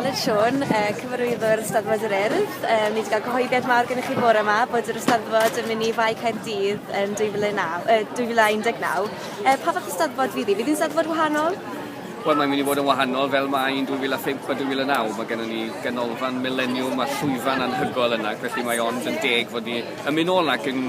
Aled Siôn, Cyfarwyddwr Eisteddfod yr Urdd. Ni wedi cael cyhoeddiad mawr gennych chi fore yma bod yr Eisteddfod yn mynd i Fae Caerdydd yn 2019. Pa fath o Eisteddfod fydd hi? Fydd hi'n Eisteddfod wahanol? Wel, mae'n mynd i fod yn wahanol fel mae yn 2005 a 2009. Mae gennym ni ganolfan mileniwm a llwyfan anhygoel yna, felly mae ond yn deg fod ni yn mynd nôl ac yn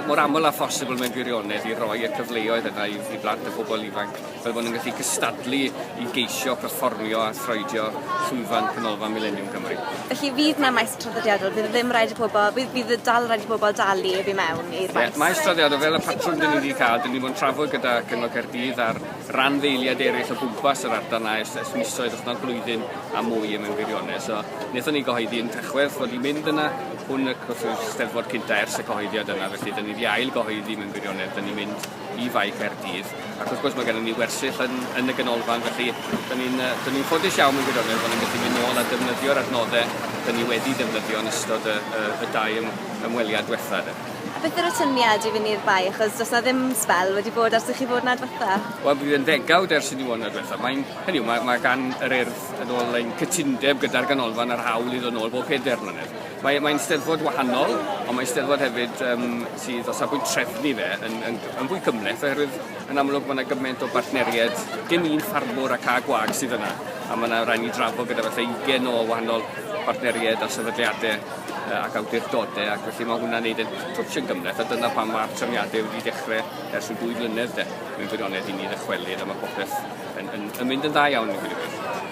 mor aml â phosibl mewn gwirionedd i roi y cyfleoedd yna i, i blant a phobl ifanc. fel bod nhw'n gallu cystadlu i geisio perfformio a throedio llwyfan Canolfan Mileniwm Cymru. Felly fydd 'na maes traddodiadol, fydd e ddim rhaid i pobl, fydd, fydd e dal rhaid i pobl dalu i fi mewn i'r maes? Ie, maes traddodiadol, fel y patrwm dyn ni wedi cael, dyn ni wedi trafod gyda Cyngor Caerdydd a'r ran ddeiliad eraill o gwmpas yr ardal na ers, ers misoedd, os nad blwyddyn a mwy yn mewn gwirionedd. So, wnaethon ni gyhoeddi yn Tachwedd fod i'n mynd yna, hwn y gwrs yw'r steddfod cynta ers y cyhoeddiad yna, felly dyn ni wedi ail gyhoeddi mewn gwirionedd, dyn ni'n mynd i Fae Caerdydd, ac wrth gwrs mae gennym ni wersyll yn, yn y ganolfan, felly dyn ni'n uh, dyn ni ffodus iawn mewn gwirionedd bod ni'n gallu mynd nôl a defnyddio'r adnoddau dyn ni wedi defnyddio yn ystod y, y, y dau ym, ymweliad diwetha. De. A beth yr atyniad i fynd i'r bae, achos does na ddim spel wedi bod ers i chi fod na diwetha? Wel, bydd yn ddegawd ers i ni fod na diwetha. Mae'n, hynny mae, mae gan yr urdd yn ôl ein cytundeb gyda'r ganolfan a'r hawl i ddod nôl bob peder mlynedd. Mae, mae'n steddfod wahanol, ond mae'n steddfod hefyd um, sydd o safbwynt trefnu fe yn, yn, yn fwy cymleth, oherwydd yn amlwg mae yna gymaint o bartneriaid, dim un ffarmwr ac a gwag sydd yna, a mae yna rhaid ni drafod gyda falle 20 o wahanol bartneriaid a sefydliadau uh, ac awdurdodau, ac felly mae hwnna'n neud yn twtch yn gymleth, a dyna pan mae'r trefniadau wedi dechrau ers yn dwy flynedd de, mewn gwirionedd i ni ddychwelyd, a mae popeth yn, yn, yn mynd yn dda iawn yn gwirionedd.